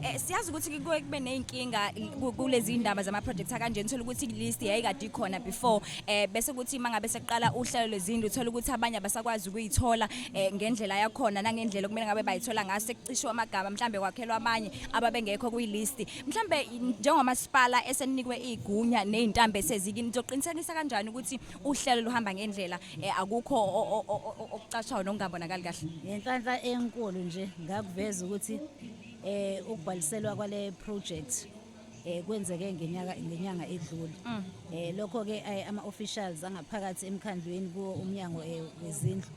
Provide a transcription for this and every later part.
Eh siyazi ukuthi kuke kube nezinkinga kulezi indaba zama projects kanje uthola ukuthi list yayikade ikhona before eh bese kuthi mangabe seqala uhlelo lezindlu uthola ukuthi abanye abasakwazi ukuyithola eh, ngendlela yakhona nangendlela okumele ngabe bayithola ngaso sekucishwa amagama mhlambe kwakhelwa abanye ababengekho kuyi list mhlambe njengomasipala eseninikwe igunya nezintambe sezikini nizoqinisekisa kanjani ukuthi uhlelo luhamba ngendlela eh, akukho okucashayo nokungabonakali kahle ngenhlanhla enkulu nje ngakuveza ukuthi Eh ukubhaliselwa kwale project eh kwenzeke ngenyaka ngenyanga edlule mm. eh lokho ke eh, ama officials angaphakathi emkhandlweni kuwo umnyango eh, wezindlu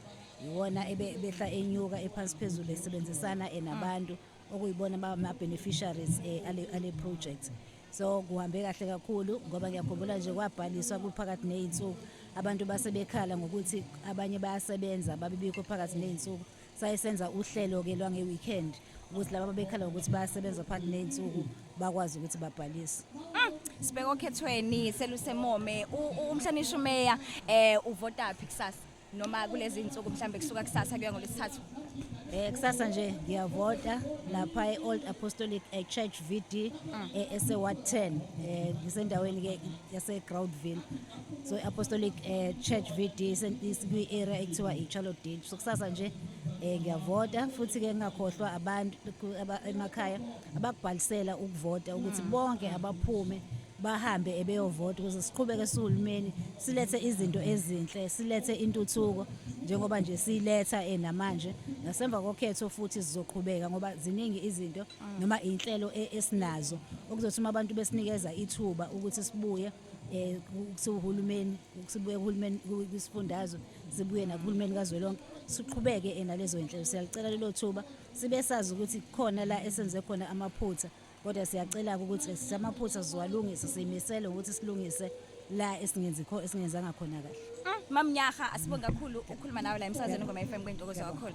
iwona ebehla enyuka ephansi phezulu esebenzisana eh, nabantu okuyibona bama beneficiaries ale ale project so kuhambe kahle kakhulu ngoba ngiyakhumbula nje kwabhaliswa kuphakathi nezinsuku abantu basebekhala ngokuthi abanye bayasebenza babibikho phakathi nezinsuku saye senza uhlelo-ke lwange-weekend ukuthi laba babekhala ukuthi bayasebenza phakathi ney'nsuku bakwazi ukuthi babhalise mm, sibheke okhethweni selusemome umhlonishwa umeya um uvotaphi kusasa noma kulezi nsuku mhlawumbe kusuka kusasa kuya ngolwesithathu Eh kusasa nje ngiyavota lapha eOld Apostolic eh, Church VD mm. eh, eseWard 10 eh ngisendaweni ke yaseGroundville so i-apostolic eh, church vd kwi-area ekuthiwa i-charlotte ditch so kusasa nje um ngiyavota futhi-ke ngingakhohlwa abantu emakhaya abakubhalisela ukuvota ukuthi mm. bonke abaphume bahambe ebeyovota ukuze siqhubeke sihulumeni silethe izinto ezinhle silethe intuthuko njengoba nje siyiletha eh, namanje nasemva kokhetho futhi sizoqhubeka ngoba ziningi izinto mm. noma inhlelo eh, esinazo okuzothi uma abantu besinikeza ithuba ukuthi sibuye eh kusuhulumeni kusibuye kuhulumeni kwisifundazwe sibuye nakuhulumeni kazwelonke siqhubeke ena lezo inhlelo siyalicela lelo thuba sibe sazi ukuthi khona la esenze khona amaphutha kodwa siyacela ukuthi sisamaphutha siwalungise siyimisele ukuthi silungise la esingenzi kho esingenzanga khona kahle mm, mamnyaha asibonge kakhulu ukukhuluma nawe la emsazweni ngoma FM kwentokozo kakhulu